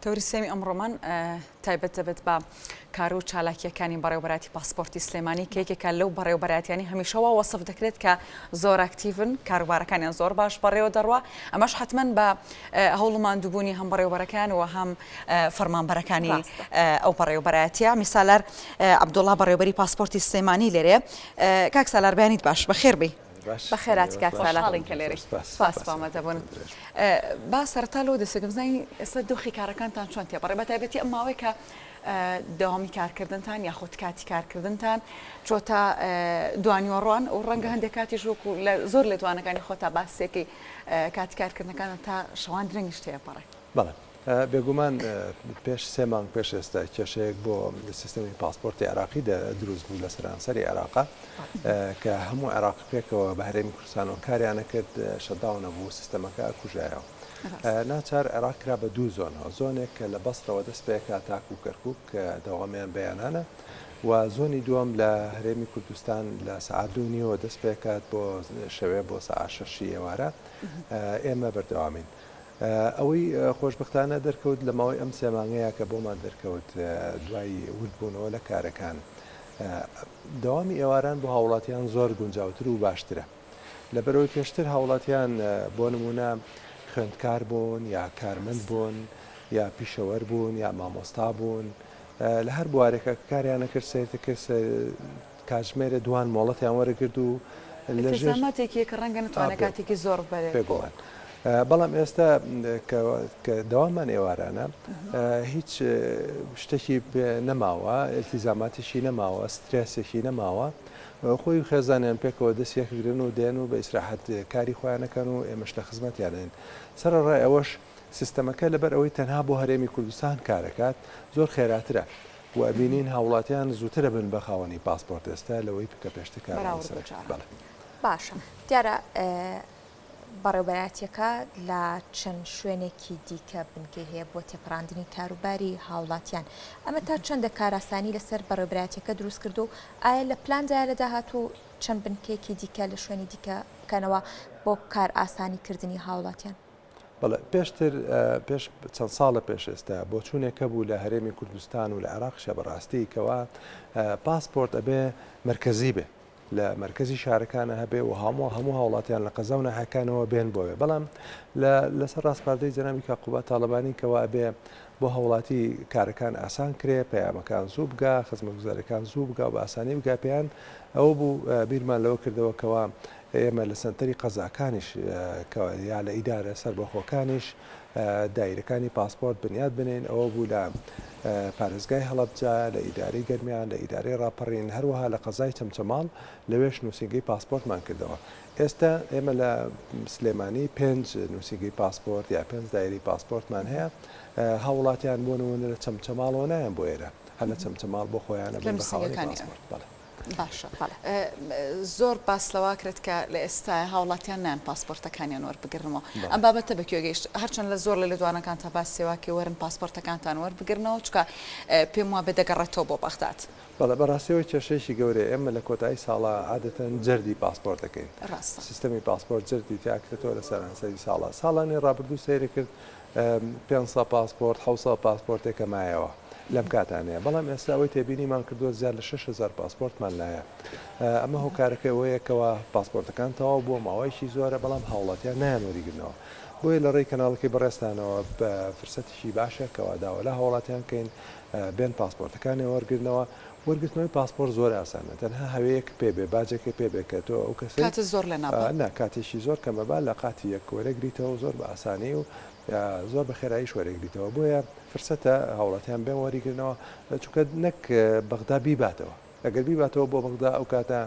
تەوری سێمی ئەمڕۆمان تایبەت دەبێت بە کارو و چالاکیەکانی بەڕێوبەراتی پاسپۆرتی سلێمانی کە یەکێکە لەو بەڕێوبەراتیانی هەمیشەوا وەصف دەکرێت کە زۆر ئاکتیڤن کاروبارەکانیان زۆر باش بەڕێوە دەڕوا ئەمەش حتمما بە هەوڵماندووبوونی هەم بەڕێوبەرەکان و هەم فەرمانبەرەکانی ئەو بەڕێوبەراتە میسالار عبدوڵا بەڕێوبەری پاسپۆرتی سلێمانی لێرێ کاک سالار بەیانیت باش بەخێربی بەخێراتی کاک سالار. خۆشحاڵین کە لێرەی. سپاس بۆ ئامادەبوون. با سەرەتا لەوە دەست پێکەم بزانین ئێستا دۆخی کارەکانتان چۆن تێپەڕی بە تایبەتی ئەم ماوەی کە دەوامی کارکردنتان یاخود کاتی کارکردنتان چۆتە دوانیۆڕوان و ڕەنگە هەندێک کاتیش وەکو لە زۆر لێدوانەکانی خۆتا باسێکی کاتی کارکردنەکانە تا شەوان درەنگیش تێپەڕێ. بەڵێ بێگومان پێش سێ مانگ پێش ئێستا کێشەیەک بۆ سیستەمی پاسپۆرتی عراقی دروست بوو لە سەرانسەری عێراقا کە هەموو عێراق پێکەوە بە هەرێمی کوردستان و کاریانە کرد شەداو نەبوو سیستەمەکە کوژایەوە ناچار عێراق کرا بە دوو زۆنەوە زۆنێک کە لە بەسرەوە دەست پێکا تاکو کەرکک کە دەوامیان بەیانانە و زۆنی دووەم لە هەرێمی کوردستان لە سعدو نیەوە دەست پێکات بۆ شەوێ بۆ سەعاشەشی ئێوارە ئێمە بەردەوامین. ئەوەی خۆشبەختانە دەرکەوت لە ماوەی ئەم سێ مانگەیا کە بۆمان دەرکەوت دوای وردبوونەوە لە کارەکان دەوامی ئێواران بۆ هاوڵاتیان زۆر گونجاوتر و باشترە لەبەرەوەی پێشتر هاوڵاتیان بۆ نمونە خوێندکار بوون یا کارمەند بوون یا پیشەوەر بوون یا مامۆستا بوون لە هەر بوارێکە کاریانە کرد سێرتە کرد کاتژمێرێ دوان مۆڵەتیان وەرگرت و لە ئیتر ژێر زەحمەتێکیە کە ڕەنگە نەتوانێ ئا بێ کاتێکی زۆڕ بەرێت بۆ بێگومان ئە بەڵام ئێستا کە کە دەوامان ئێوارانە ئە هیچ شتێکی پێ نەماوە ئیلتیزاماتیشی نەماوە سترێسێکی نەماوە ئە خۆی و خێزانیان پێکەوە دەس یەکگرن و دێن و بە ئیسراحەت کاری خۆیان نەکەن و ئێمەش لە خزمەتیانین سەرەڕای ئەوەش سیستەمەکە لەبەر ئەوەی تەنها بۆ هەرێمی کوردستان کارەکات زۆر خێراترە و ئەبینین هاوڵاتیان زووتر ئەبن بە خاوەنی پاسپۆرت ئێستا لەوەی کە پێشتر کارەبای سەر ئەکرد بەڵێ. باشە دیارە بەڕێوبەراتیەکە لە چەند شوێنێکی دیکە بنکەی هەیە بۆ تێپەڕاندنی کاروباری هاوڵاتیان ئەمە تا چەندە کاراسانی لەسەر بەڕێبراتیەکە دروست کرد و ئایا لە پلاندا لە داهات و چەند بنکێکی دیکە لە شوێنی دیکە بکەنەوە بۆ کار ئاسانی کردنی هاوڵاتیان بەڵێ پێشتر پێش چەند ساڵە پێش ئێستا بۆچوونێک هەبوو لە هەرێمی کوردستان و لە عێراقشە بەڕاستی کەوا پاسپۆرت ئەبێ مرکزی بێ لە مرکزی شارەکانە هەبێ و هەموو هەموو هاوڵاتیان لە قەزا و ناحەکانەوە بێن بۆێ بەڵام لەسەر ڕاستپاردەی جەناوی کا قوبا تاالبانی کەوا بێ بۆ هەوڵاتی کارەکان ئاسان کرێ پەیامەکان زوو بگا خزمە گوزارەکان زوو بگا و بە ئاسانی بگا پێیان ئەوە بوو بیرمان لەوە کردەوەکەوە ئێمە لە سەنتەری قەزاکانیش یا لە ئیدارە سەربەخۆکانیش دایرەکانی پاسپۆرت بنیاد بنین ئەوە بوو لە پارێزگای هەڵەبجە لە ئیدارەی گەرمیان لە ئیدارەی ڕاپەڕین هەروەها لە قەزای چەمچەماڵ لەوێش نووسینگەی پاسپۆرتمان کردەوە ئێستا ئێمە لە سلێمانی پێنج نووسینگەی پاسپۆرت یا پێنج دایری پاسپۆرتمان هەیە هاوڵاتیان بۆ نمونە لە چەمچەماڵەوە نایەن بۆ ئێرە هەر لە چەمچەماڵ بۆ خۆیانە بن بە خاوەنی پاسپۆرت بەڵێ باشە زۆر باس لەواکرێت کە لە ئێستاە هاوڵاتیان نان پاسپۆرتەکانیان وەربگرنەوە ئەم بابەتە بە کوێگەیشت هەرچەند لە زۆر لە لێدوانەکان تا باس سێواکە وەرن پاسپۆرتەکانتان وەربگرنەوە چکە پێم وابێ دەگەڕێتەوە بۆ بەغداد بەڵێ بەڕاستەوە کێشەیەکی گەورە ئێمە لە کۆتایی ساڵە عادەتەن جەردی پاسپۆرت دەکەین سیستەمی پاسپۆرت جەردی تیاکرێتەوە لە سەرانسەری ساڵە ساڵانی ڕابردوو سەیرە کرد پێنج سەد پاسپۆرت، حەوت سەد پاسپۆرتێک کە مایەوە لەم کاتانەیە، بەڵام ئێستا ئەوەی تێبینیمان کردووە زیاد لە شەش هەزار پاسپۆرتمان لایە. ئەمە هۆکارەکەی ئەوەیە کەوا پاسپۆرتەکان تەواو بووە ماوەیەکی زۆرە، بەڵام هاوڵاتیان نایان وەریگرنەوە. بۆیە لە ڕێی کەناڵەکەی بەڕێزتانەوە فرسەتێکی باشە کەوا داوا لە هاوڵاتیان کەین بێن پاسپۆرتەکانیان وەرگرنەوە، وەرگرتنەوەی پاسپۆرت زۆر ئاسانە تەنها هەوێیەک پێ بێ باجێکێ پێ بێ کە تۆ ئەو کەسەی کاتت زۆر لێ نابا. نا کاتیشی زۆر کەمە با لە قاتی یەک وەرێگریتەوەو زۆر بە ئاسانی و زۆر بە خێراییش وەرێگریتەوە بۆیە فرسەتە هاوڵاتیان بێن وەریگرنەوە چونکە نەک بەغدا بیباتەوە. ئەگەر بیباتەوە بۆ بەغدا ئەو کاتە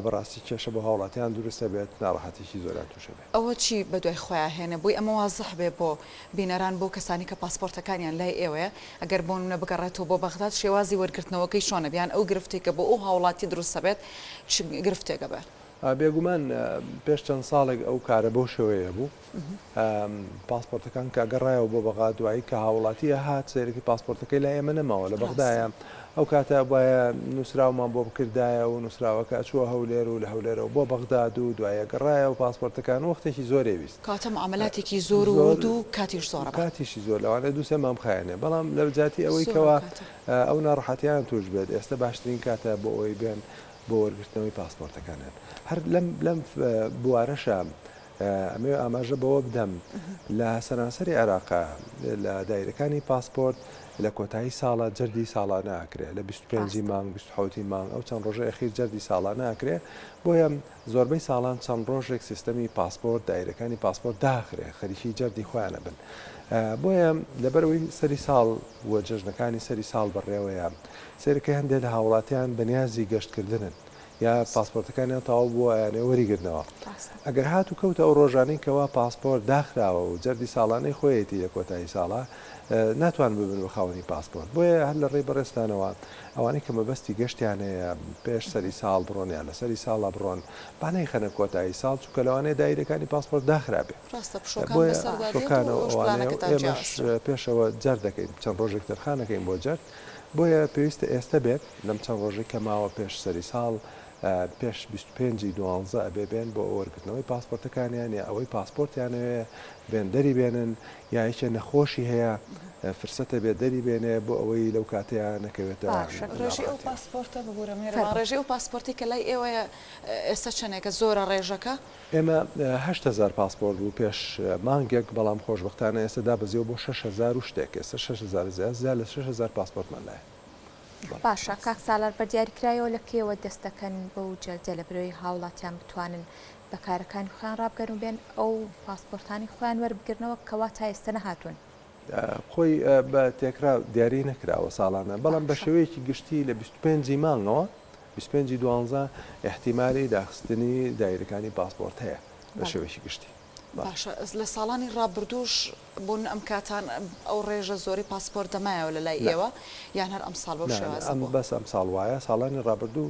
بەڕاستی کێشە بۆ هاوڵاتیان دروست ئەبێت ناڕەحەتیی زۆریان توش ئەبێت. ئەوە چی بەدوای خۆیا هێنە؟ بۆی ئەمە وازح بێ بۆ بینەران بۆ کەسانی کە پاسپۆرتەکانیان لای ئێوەیە ئەگەر بۆنمونە بگەڕێتەوە بۆ بەغداد شێوازی وەرگرتنەوەکەی چۆن ئەبێ یان ئەو گرفتەی کە بۆ ئەو هاوڵاتی دروست ئەبێت چ گرفتێک ئەبێ؟ بێگومان پێش چەند ساڵێک ئەو کارە بەو شێوەیە بوو. پاسپۆرتەکان کە گەڕایەوە بۆ بەغا دوایی کە هاوڵاتیە هات سەیرەکی پاسپۆرتەکەی لا ئێمە نەماوە لە بەغدایە ئەو کاتە بایە نووسراومان بۆ بکردایە و نووسراوەکە ئەچووە هەولێر و لە هەولێرەوە بۆ بەغداد و دوایە گەڕایە و پاسپۆرتەکان وەختێکی زۆرێ ویست کاتە معاملاتێکی زۆر زۆر و کاتیش زۆر کاتیشی زۆر لەوانێ دووسێ مام خایێنێ بەڵام لە جاتی ئەوەی کەەوە ئەو ناڕحەتیان توش بێت ئێستا باشترین کاتە بۆ ئەوی بێن بۆ وەرگرتنەوەی پاسپۆرتەکانیان هەر لەم لەم بوارەشە ئەمەوێ ئاماژە بەوە بدەم لە سەرانسەری عێراق لە دایرەکانی پاسپۆرت لە کۆتایی ساڵە جەردی ساڵانە ئەکرێ لە 25 مانگ 26 مانگ ئەو چەند ڕۆژە ئەخیر جەردی ساڵانە ئەکرێ بۆیە زۆربەی ساڵان چەند ڕۆژێک سیستەمی پاسپۆرت دایرەکانی پاسپۆرت داخرێ خەریکی جەردی خۆیانە بن بۆیە لەبەرەوەی سەری ساڵ و جەژنەکانی سەری ساڵ بەڕێوەیە سەرکە هەندێک لە هاوڵاتیان بەنیازی گەشتکردنن یا پاسپۆرتەکانیان تەواو بووە ئەیانەوێ وەریگرنەوە ئەگەر هات و کەوتە ئەو ڕۆژانەی کەوا پاسپۆرت داخراوە و جەردی ساڵانەی خۆیەتی لە کۆتایی ساڵە ناتوان ببن بە خاوەنی پاسپۆرت بۆیە هەر لە ڕێی بەڕێستانەوە ئەوانەی کە مەبەستی گەشتیان هەیە پێش سەری ساڵ بڕۆن یان لە سەری ساڵا بڕۆن با نەیخەنە کۆتایی ساڵ چونکە لەوانەیە دایرەکانی پاسپۆرت داخرابێ بۆیە شۆکانەوە ئەوانەیە ئێمەش پێشەوە جەرد دەکەین چەند ڕۆژێک تەرخانەکەین بۆ جەرد بۆیە پێویستە ئێستە بێت لەم چەند ڕۆژەی کە ماوە پێش سەری ساڵ پێش بیست و پێنج ی دوانزە ئەبێ بێن بۆ وەرگرتنەوەی پاسپۆرتەکانیان یا ئەوەی پاسپۆرتیانەوێ بێن دەری بێنن یا یەکێ نەخۆشی هەیە فرسەتە بێ دەری بێنێ بۆ ئەوەی لەو کاتەیە نەکەوێتە باشە ڕێژەی ئەو پاسپۆرتە ببورە مێرەبان ڕێژەی ئەو پاسپۆرتەی کە لای ئێوەیە ئێستە چەندێکە زۆرە ڕێژەکە؟ ئێمە هەشت هەزار پاسپۆرت بوو پێش مانگێک، بەڵام خۆشبەختانە ئێستا دابەزیوە بۆ شەش هەزار و شتێک، ئێستا شەش هەزار زیاد، زیاد لە شەش هەزار پاسپۆرتمان لایە. باشە کاک سالار بە دیاریکرایەوە لە کەیەوە دەست دەکەن بەو جەلدە لە برەوەی هاوڵاتیان بتوانن بە کارەکانی خۆیان ڕابگەرن و بێن ئەو پاسپۆرتانەی خۆیان وەربگرنەوە کەوا تا ئێستا نەهاتوون؟ خۆی بە تێکرا دیاری نەکراوە ساڵانە بەڵام بە شێوەیەکی گشتی لە 25 مانگەوە 25 دوانزە احتیممالی داخستنی دایرەکانی پاسپۆرت هەیە بە شێوەیەکی گشتی باشە لە ساڵانی ڕابردووش بۆ ئەم کاتان ئەو ڕێژە زۆری پاسپۆرت دەمایەوە لە لای ئێوە یان هەر ئەم ساڵ بەم شێوازە بەس ئەم ساڵ وایە ساڵانی ڕابردوو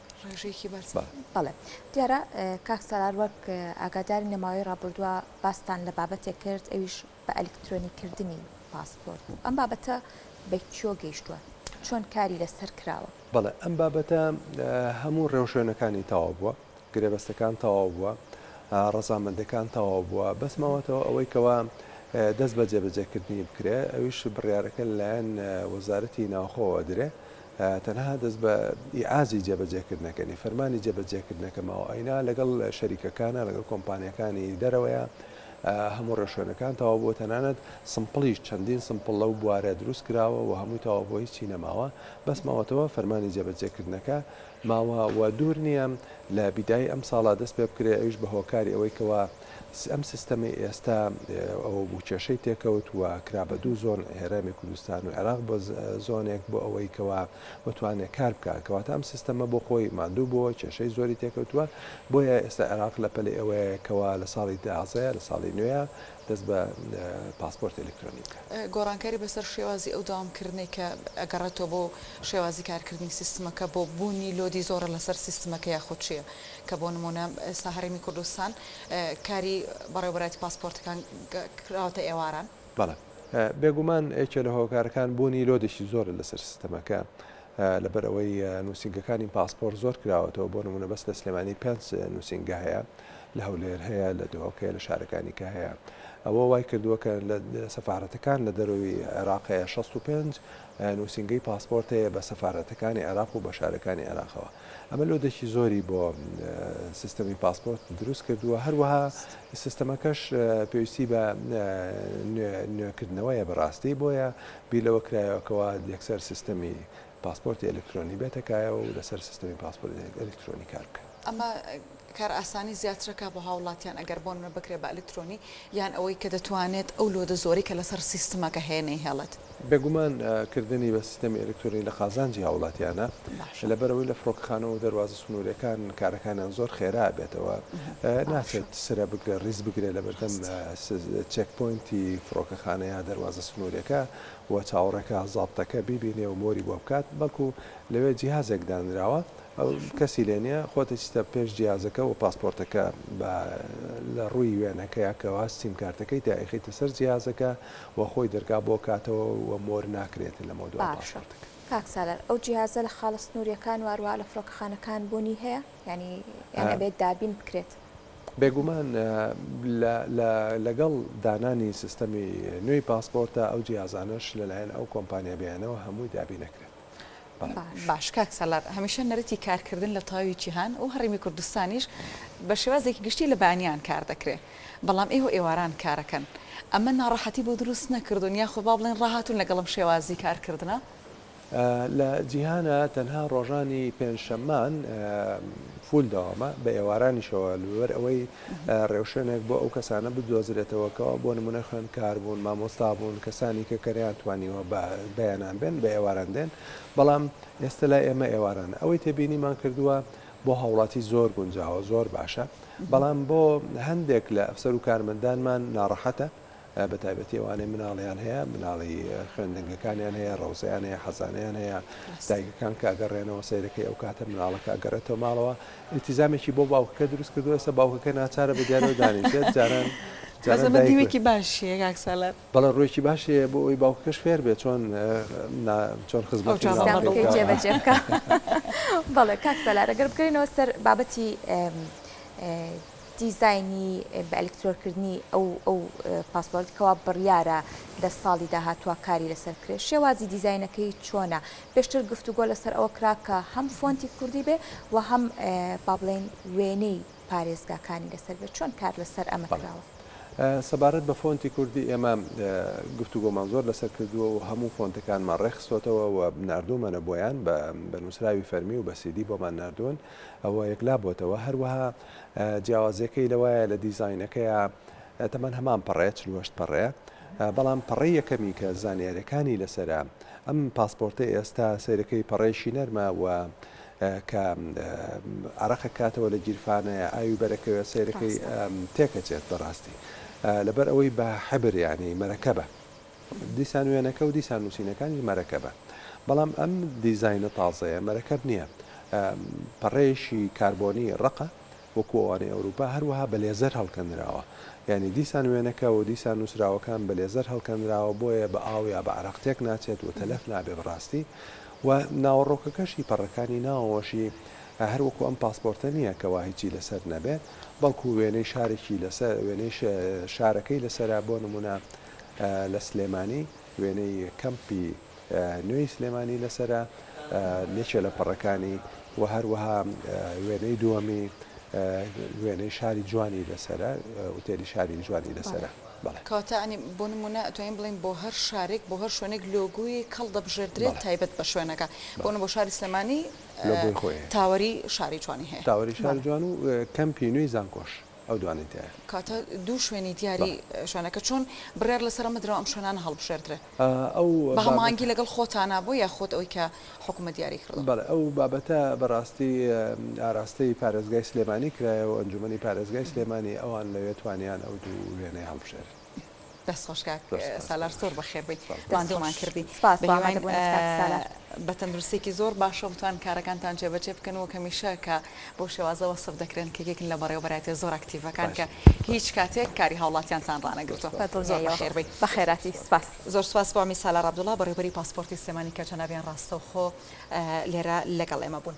ڕێژەیەکی بەرز بەڵێ دیارە کاک سالار وەک ئاگاداری نەماوەی ڕابردووە باستان لە بابەتێک کرد ئەویش بە ئەلکترۆنی کردنی پاسپۆرت بوو ئەم بابەتە بە کیۆ گەیشتووە چۆن کاری لەسەر کراوە بەڵێ ئەم بابەتە هەموو ڕێوشوێنەکانی تەواو بووە گرێبەستەکان تەواو بووە ڕەزامەندەکان تەواو بووە بەس ماوەتەوە ئەوەی کەوا دەست بە جێبەجێکردنی بکرێ ئەویش بڕارەکە لایەن وەزارەتی ناوخۆوە درێ تەنها دەست بە ئیعازی جێبەجێکردنەکە نیە، فەرمانی جێبەجێکردنەکە ماوە، ئەینا لەگەڵ شەریکەکانە، لەگەڵ کۆمپانیاکانی دەرەوەیە، هەموو ڕێوشوێنەکان تەواو بووە، تەنانەت سمپڵیش چەندین سمپڵ لەو بوارە دروست کراوە و هەمووی تەواو بووە هیچی نەماوە، بەس ماوەتەوە فەرمانی جێبەجێکردنەکە ماوە و دوور نیە لە بیدایەی ئەمساڵا دەست پێبکرێ، ئەویش بە هۆکاری ئەوەی کەوا. ئەم سیستەمەی ئێستا ئەوە بوو کێشەی تێکەوت و کرا بە دوو زۆن هێرامی کوردستان و عێراق بە زۆنێک بۆ ئەوەی کەوا بتوانێت کار بکە کەواتە ئەم سیستەمە بۆ خۆی مادوو بۆ کێشەی زۆری تێکەوتووە بۆیە ئێستا عێراق لە پەلی ئەوەیە کەوا لە ساڵی دازەیە لە ساڵی نوێە دەست بە پاسپۆرت ئەلکترۆنی بکە گۆڕانکاری بەسەر شێوازی ئەو داوامکردنەی کە ئەگەڕێتەوە بۆ شێوازی کارکردنی سیستمەکە بۆ بوونی لۆدی زۆرە لەسەر سیستمەکە یاخود چیە کە بۆ نموونە ئێستا هەرێمی کوردستان کاری بەڕێوەبەرایەتی پاسپۆرتەکان کراوەتە ئێواران؟ بەڵێ. بێگومان یەکێ لە هۆکارەکان بوونی لۆدێکی زۆرە لەسەر سیستەمەکە، لەبەر ئەوەی نووسینگەکانی پاسپۆرت زۆر کراوەتەوە، بۆ نموونە بەس لە سلێمانی پێنج نووسینگە هەیە، لە هەولێر هەیە، لە دهۆک هەیە، لە شارەکانی کە هەیە. ئەوە وای کردووە کە لە سەفارەتەکان لە دەرەوەی عێراق هەیە شەست و پێنج نووسینگەی پاسپۆرت هەیە بە سەفارەتەکانی عێراق و بە شارەکانی عێراقەوە. ئەمە لۆدێکی زۆری بۆ سیستەمی پاسپۆرت دروست کردووە هەروەها سیستەمەکەش پێویستی بە نوێکردنەوەیە بەڕاستی بۆیە بیلەوە کرایەوەکەوە یەکسەر سیستەمی پاسپۆرتی ئەلکترۆنی بێتەکایە و لەسەر سیستەمی پاسپۆرت ئەلکترۆنی کار بکە ئەمە کار ئاسانی زیاترەکا بۆ هاوڵاتیان ئەگەر بۆنمونە بکرێت بە ئەلکترۆنی یان ئەوەی کە دەتوانێت ئەو لۆدە زۆرەی کە لەسەر سیستمەکە هەیە نەیهێڵێت. بێگومان کردنی بە سیستەمی ئەلکترۆنی لە قازانجی هاوڵاتیانە لەبەرئەوەی لە فرۆکەخانەوە و دەروازە سنوریەکان کارەکانیان زۆر خێرا ئەبێتەوە ناچێت سرە بگرێت ڕیز بگرێت لەبەردەم چێک پۆینتی فرۆکەخانە یا دەروازە سنوریەکە و چاوەڕێکە زابتەکە بیبینێ و مۆری بۆ بکات بەڵکو لەوێ جیهازێک دانراوە ئەو کەسی لێ نیە خۆت ئیستە پێش جیازەکە وە پاسپۆرتەکە با لە ڕووی وێنەکەیە کەوا سیم کارتەکەی تا ئەیخیتە سەر جیازەکە وە خۆی دەرگا بۆ کاتەوە وە مۆر ناکرێت لەمەو دوای پاسپۆرتەکە. کاک سالار ئەو جیهازە لە خاڵە سنوریەکان و هەروەها لە فرۆکەخانەکان بونی هەیە یانی یان ئەبێت دابین بکرێت؟ بێگومان لەگەڵ دانانی سیستەمی نوێی پاسپۆرتە ئەو جیازانەش لەلایەن ئەو کۆمپانیا بیانەوە هەمووی دابین ئەکرێت. باش کاک سالار هەمیشە نەرتی کارکردن لە تەواوی جیهان و هەڕیمی کوردستانیش بە شێوازێکی گشتی لە بانیان کار دەکرێ بەڵام ئێوە ئێواران کارەکەن ئەمە ناڕەحەتی بۆ دروست نەکردون یاخۆ با بڵێن ڕاهاتون لەگەڵم شێوازی کارکردنە لە جیهانە تەنها ڕۆژانی پێنجشەمان فول داوامە بە ئێوارانیشەوە لەوەر ئەوەی ڕێوشوێنێک بۆ ئەو کەسانە بدۆزرێتەوە کەوا بۆ نمونە خوێندکار بوون، مامۆستا بوون، کەسانی کە کە نەیانتوانیوە بە بەیانان بێن بە ئێواران دێن، بەڵام ئێستە لای ئێمە ئێوارانە ئەوەی تێبینیمان کردووە بۆ هاوڵاتی زۆر گونجاوە زۆر باشە، بەڵام بۆ هەندێک لە ئەفسەر و کارمەندانمان ناڕەحەتە. بە تایبەتی ئەوانەی مناڵیان هەیە مناڵی خوێندنگەکانیان هەیە ڕەوزیان هەیە حەزانیان هەیە دایکەکان کە ئەگەڕێنەوە سیرەکەی ئەو کاتە مناڵەکە ئەگەڕێتەوە ماڵەوە التیزامێکی بۆ باوکەکە دروست کردو ئێستا باوکەکە ناچارە بە دیارەوە دانیشێت جاران دیوێکی باشیە کاکسالات بەڵە ڕۆیکی باشێ بۆ ئەوی باوکەکەش فێر بێت چۆن چۆن خزمەت بەڵێ کاکسەلارەگەر بکەینەوە سەر بابەتی دیزاینی بە ئەلکترۆرکردنی ئەو ئەو پاسپۆرت کەوا بڕیارە لە ساڵی داهاتوە کاری لەسەر بکرێت شێوازی دیزاینەکەی چۆنە پێشتر گفتوگۆ لەسەر ئەوە کرا کە هەم فۆنتی کوردی بێ و هەم با بڵێن وێنەی پارێزگاکانی لەسەر بێت چۆن کار لەسەر ئەمە کراوە؟ سەبارەت بە فۆنتی کوردی ئێمە گفتوگۆمان زۆر لەسەر کردووە و هەموو فۆنتەکانمان ڕێکخستۆتەوە و ناردوومەنە بۆیان بە نووسراوی فەرمی و بە سیدی بۆمان ناردوون ئەوە یەکلا بۆتەوە هەروەها جیاوازیەکەی لەوایە لە دیزاینەکەیا تەمەن هەمان پەڕەیە چل و هەشت پەڕەیە بەڵام پەڕەی یەکەمی کە زانیارەکانی لەسەرە ئەم پاسپۆرتی ئێستا سەیرەکەی پەڕەیشی نەرمە و کە عراقە کاتەوە لە گیرفانەیە ئاوی بەرەکەوێ سەیرەکەی تێکەچێت بەڕاستی لەبەر ئەوەی بە حەبریانی مەرەکەبە دیسان وێنەکە و دیسان نووسینەکانیش مەرەکەبە. بەڵام ئەم دیزاینە تازەیە مەرەکەب نییە. پەڕەیەکی کاربۆنی ڕەقە، وەکو ئەوانەی ئەوروپا، هەروەها بە لێزەر هەڵکەندراوە. یانی دیسان وێنەکە و دیسان نووسراوەکان بە لێزەر هەڵکەندراوە، بۆیە بە ئاو یا بە عەرەق تێک ناچێت و تەلەف نابێت بە ڕاستی. و ناوەڕۆکەکەشی پەڕەکانی ناوەوەشی هەر وەکو ئەم پاسپۆرتە نییە کەوا هیچی لەسەر نەبێت، بەڵکو وێنەی شارێکی لەسەر، وێنەی شارەکەی لەسەرە، بۆ نموونە، لە سلێمانی وێنەی کەمپی نوێی سلێمانی لەسەرە یەکێ لە پەڕەکانی و هەروەها وێنەی دووەمی وێنەی شاری جوانی لەسرە وتێری شاری جوانی لەسرە کاتانی بۆ نمونە ئەتوانین بڵین بۆ هەر شارێک بۆ هەر شوێنێک لۆگویی کەڵ دەبژێردرێت تایبەت بە شوێنەکە بۆن بۆ شاری سلمانی تاوەری شاری جوانی هەیە تاوەری شار جوان و کەمپی نوێی زانکۆش ئەو دوانەی تیایە. کاتە دوو شوێنی دیاری شوێنەکە چۆن بڕیار لەسەر ئەمە درا ئەم شوێنانە هەڵبژێردرێ؟ ئەو بە هەماهەنگی لەگەڵ خۆتانا بۆ یا خۆت ئەوی کە حکومەت دیاری کردووە؟ بەڵێ ئەو بابەتە بەڕاستی ئاراستەی پارێزگای سلێمانی کرایە و ئەنجومەنی پارێزگای سلێمانی ئەوان لەوێ توانیان ئەو دوو وێنەیە هەڵبژێرن. دەست خۆش کاک سالار زۆر بەخێر بێی ماندوومان کردی سپاس بۆ ئامادە بوونت کاک سالار. هیوام بە تەندروستییەکی زۆر باشە و بتوانن کارەکانتان جێبەجێ بکەن وەک هەمیشە کە بۆ شێوازە وەسف دەکرێن کە یەکن لە بەڕێوەبەرایەتیە زۆر ئەکتیڤەکان کە هیچ کاتێک کاری هاوڵاتیانتان ڕانەگرتووە بە دڵنیاییەوە زۆر بەخێر بێی. بە خێراتی سپاس. زۆر سپاس بۆ عەمید سالار عەبدوڵا بەڕێوەبەری پاسپۆرتی سلێمانی کە جەنابیان ڕاستەوخۆ لێرە لەگەڵ ئێمە بوون.